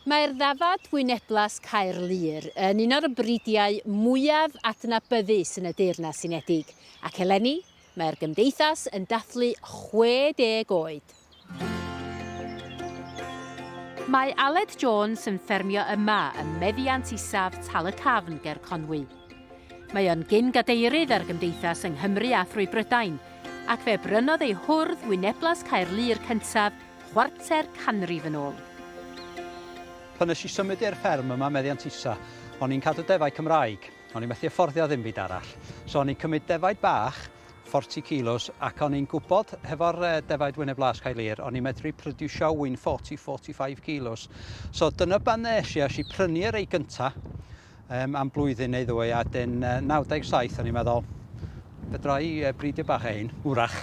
Mae'r ddafad wyneblas Caerlŷr yn un o'r bridiau mwyaf adnabyddus yn y Deyrnas Unedig, ac eleni mae'r Gymdeithas yn dathlu 60 oed. Mae Aled Jones yn ffermio yma ym meddiant isaf Tal-y-cafn ger Conwy. Mae o'n gyn-gadeirydd ar Gymdeithas yng Nghymru a thrwy Brydain, ac fe brynodd ei hwrdd wyneblas Caerlŷr cyntaf Chwarter canrif yn ôl. Pan nes i symud i'r fferm yma, meddiant Isa, o'n i'n cadw defaid Cymraeg. O'n i methu afforddio ddim byd arall. So o'n i'n cymryd defaid bach, 40 kilos, ac o'n i'n gwybod, hefo'r defaid Wyneb Las Cae Lir, o'n i'n medru prodiwsio ŵyn 40, 45 kilos. So dyna ban nes i, es i prynu y rei gynta, Yym, am blwyddyn neu ddwy, a dyn 97 o'n i'n meddwl, fedra i bridio bach o hyn, wrach.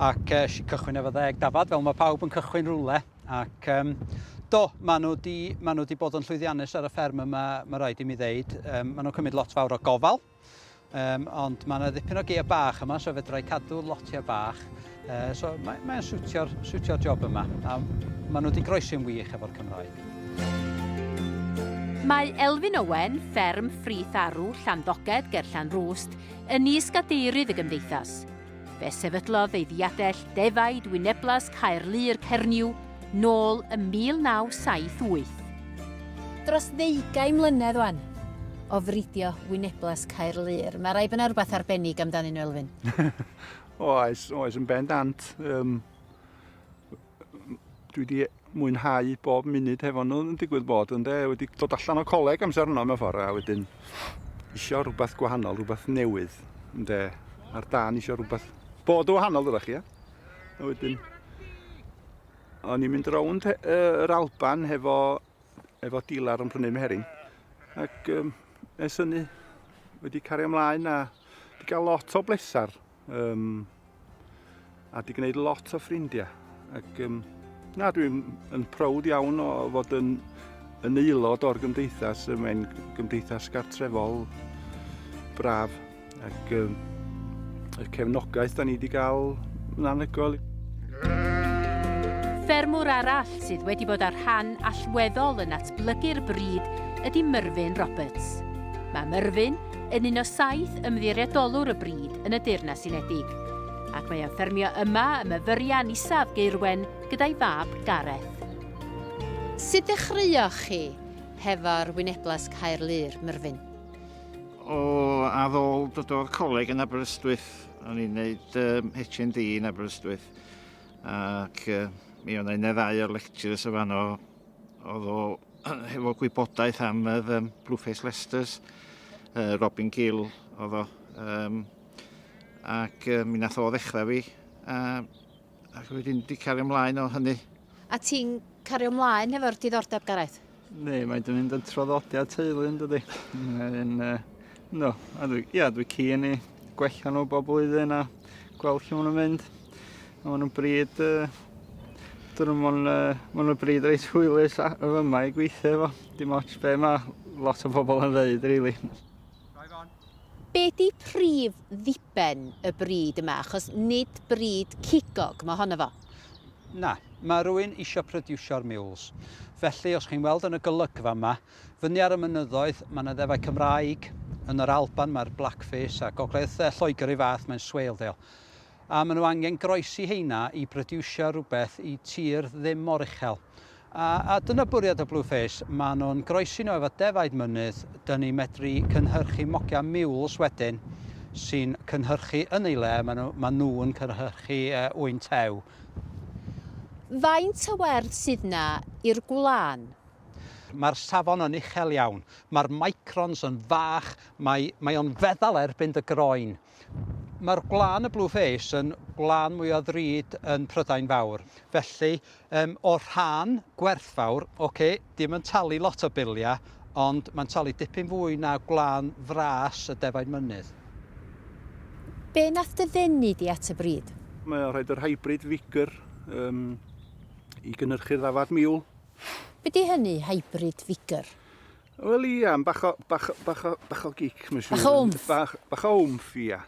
Ac uh, si cychwyn efo ddeg dafad, fel mae pawb yn cychwyn rhywle. Ac um, do, maen nhw, di, maen nhw di bod yn llwyddiannus ar y fferm yma, mae rhaid i mi ddeud. Um, maen nhw'n cymryd lot fawr o gofal. Um, ond mae yna ddipyn o geir bach yma, so fedra i cadw lotiau bach. Uh, so mae'n mae siwtio'r siwtio job yma, a maen nhw wedi groesi'n wych efo'r Cymraeg. Mae Elfyn Owen, fferm Ffrith Arw, Llanddogedd, ger Llanrwst, yn is-gadeirydd y gymdeithas. Fe sefydlodd ei ddiadell defaid wyneblas Caerlŷr Cernyw nôl ym 1978. Dros ddeugain mlynedd wan o fridio wyneblas Caerlŷr, mae rhaid bod yna rhywbeth arbennig amdanyn nhw, Elfyn? Oes, oes, yn bendant. Um, dwi wedi mwynhau bob munud hefo nhw yn digwydd bod ynde, wedi dod allan o coleg amser yno mewn ffordd a wedyn isio rhywbeth gwahanol, rhywbeth newydd ynde, ar dan isio rhywbeth bod o wahanol ydych chi, ia? A wedyn o'n i'n mynd rownd yr Alban hefo, efo dilar yn prynu meheryn ac um, es hynny wedi cario ymlaen a wedi cael lot o blesar Um, a di gwneud lot o ffrindiau. Ac um, na, dwi'n yn prowd iawn o fod yn, yn aelod o'r gymdeithas. Mae'n gymdeithas gartrefol braf. Ac um, y cefnogaeth da ni wedi cael yn anhygoel. Ffermwr arall sydd wedi bod ar rhan allweddol yn atblygu'r bryd ydy Myrfyn Roberts. Mae Myrfyn yn un o saith ymddiriedolwr y brîd yn y Deyrnas Unedig, ac mae o'n ffermio yma ym Myfyrian Isaf, Gaerwen, gyda'i fab Gareth. Sut ddechreuoch chi hefo'r Wyneblas Caerlŷr, Myrfyn? O, ar ôl dod o'r coleg yn Aberystwyth, o'n i'n neud um, HND yn Aberystwyth, ac uh, mi o'n i'n y ddau o'r lecturers o fanno, Oedd o hefo gwybodaeth am yr um, Blueface Lesters, uh, Robin Gill oedd o. Um, ac uh, mi nath o ddechrau fi, a, ac wedyn di cario ymlaen o hynny. A ti'n cario ymlaen hefo'r diddordeb, Gareth? Ne, mae dyn ni'n traddodiad teulu yn dydy. Yn, uh, no, a dwi, ia, dwi cyn i gwella nhw bob blwyddyn a gweld lle maen nhw'n mynd. Mae'n y bryd, dyn nhw mae'n ma y bryd reit hwylus y fyma i gweithio efo. Dim ots be mae lot o bobl yn ddeud, rili. Really. Be di prif ddiben y bryd yma? Achos nid bryd cigog mae honno fo. Na, mae rhywun eisiau prodiwsio'r mules. Felly, os chi'n weld yn y golygfa yma, fyny ar y mynyddoedd, mae yna ddefau Cymraeg. Yn yr Alban, mae'r Blackface a gogledd Lloegr ei fath, mae'n Swaledale. A maen nhw angen groesi heina i brodiwsio rhywbeth i tir ddim mor uchel. A, a dyna bwriad o Blue Face, maen nhw'n groesi nhw efo defaid mynydd, dyn ni medru cynhyrchu mogia mules wedyn sy'n cynhyrchu yn ei le, maen nhw, maen nhw'n cynhyrchu uh, ŵyn tew. Faint o werdd sydd na i'r gwlân? Mae'r safon yn uchel iawn, mae'r microns yn fach, mae, mae o'n feddal erbyn dy groen. Mae'r gwlân, y blue face, yn gwlân mwy o ddrud yn Prydain Fawr. Felly, um, o rhan gwerthfawr, oce, okay, dim yn talu lot o biliau, ond mae'n talu dipyn fwy na gwlân fras y defaid mynydd. Be nath dy ddenu di at y brid? Mae o'n rhaid yr hybrid vigor um, i gynnyrchu'r ddafad miwl. Be di hynny, hybrid vigor? Wel ia, bach o, bach, bach o, bach o gic, mae'n siŵr. Bach o wmff. Bach, bach o wmff, ia.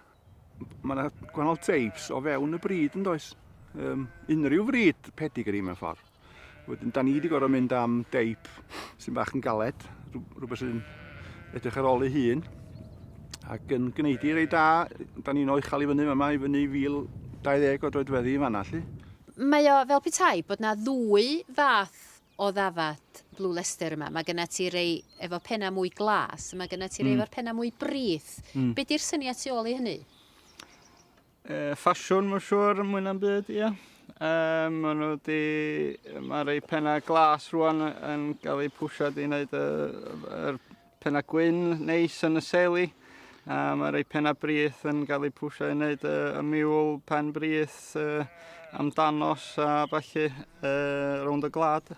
Mae yna gwahanol teibs o fewn y bryd yn does. Um, unrhyw fryd pedigree mewn ffordd. Wedyn, da ni wedi gorau mynd am deip sy'n bach yn galed, rhywbeth sy'n edrych ar ôl ei hun. Ac yn gwneud i rei da, da ni'n o'i chael i fyny yma, i fyny 1020 o droedfeddi i fanna, lli. Mae o fel petai bod na ddwy fath o ddafad Blue Leicester yma, mae gyda ti rei efo penna mwy glas, mae gyda ti rei mm. efo'r penna mwy brith. Mm. Be di'r syniad tu ôl i hynny? E, ffasiwn, mae'n siŵr, mwy na'n byd, ie. Yeah. Um, maen nhw di, mae rei penna glas rwan yn cael eu pwysio di wneud y, y, y Pennau gwyn neis yn y seli. A mae rhai pennau brith yn cael eu pwysio i wneud y, y miwl pen brith uh, am danos a falle uh, rownd y glad.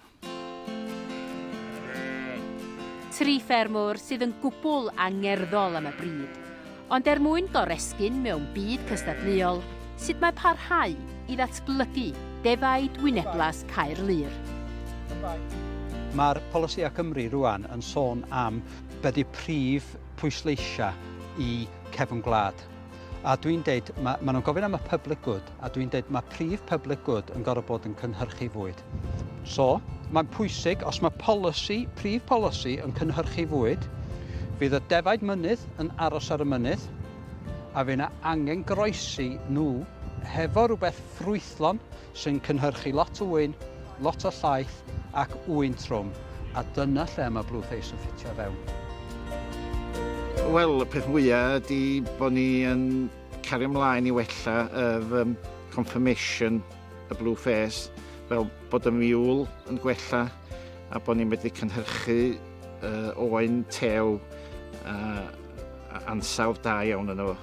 Tri ffermwr sydd yn gwbl angerddol am y bryd, Ond er mwyn goresgyn mewn byd cystadleuol sut mae parhau i ddatblygu defaid wyneblas Caerlŷr. Mae'r Polisïau Cymru rŵan yn sôn am be ydy prif pwysleisiau i cefn gwlad. A dwi'n deud, ma- maen nhw'n gofyn am y public good. a dwi'n dweud mae prif public good yn gorfod bod yn cynhyrchu fwyd. So, mae'n pwysig os mae polisi, prif polisi yn cynhyrchu fwyd, fydd y defaid mynydd yn aros ar y mynydd, a fe yna angen groesi nhw hefo rhywbeth ffrwythlon sy'n cynhyrchu lot o wyn, lot o llaeth ac wyn trwm, a dyna lle mae Blue Face yn ffitio fewn. Wel, y peth fwyaf ydy bod ni yn Cario mlaen i wella yr um, confirmation y blue face fel bod y miwl yn gwella a bod ni'n medru cynhyrchu uh, oen tew uh, ansawdd da iawn yno fo.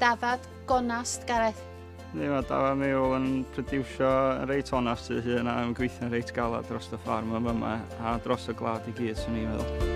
Dafad gonast, Gareth. Ni, mae dafad miwl yn producio yn reit onast ei hun a yn gweithio'n reit galad dros y ffarm yma. A dros y gwlad i gyd, swn i'n meddwl.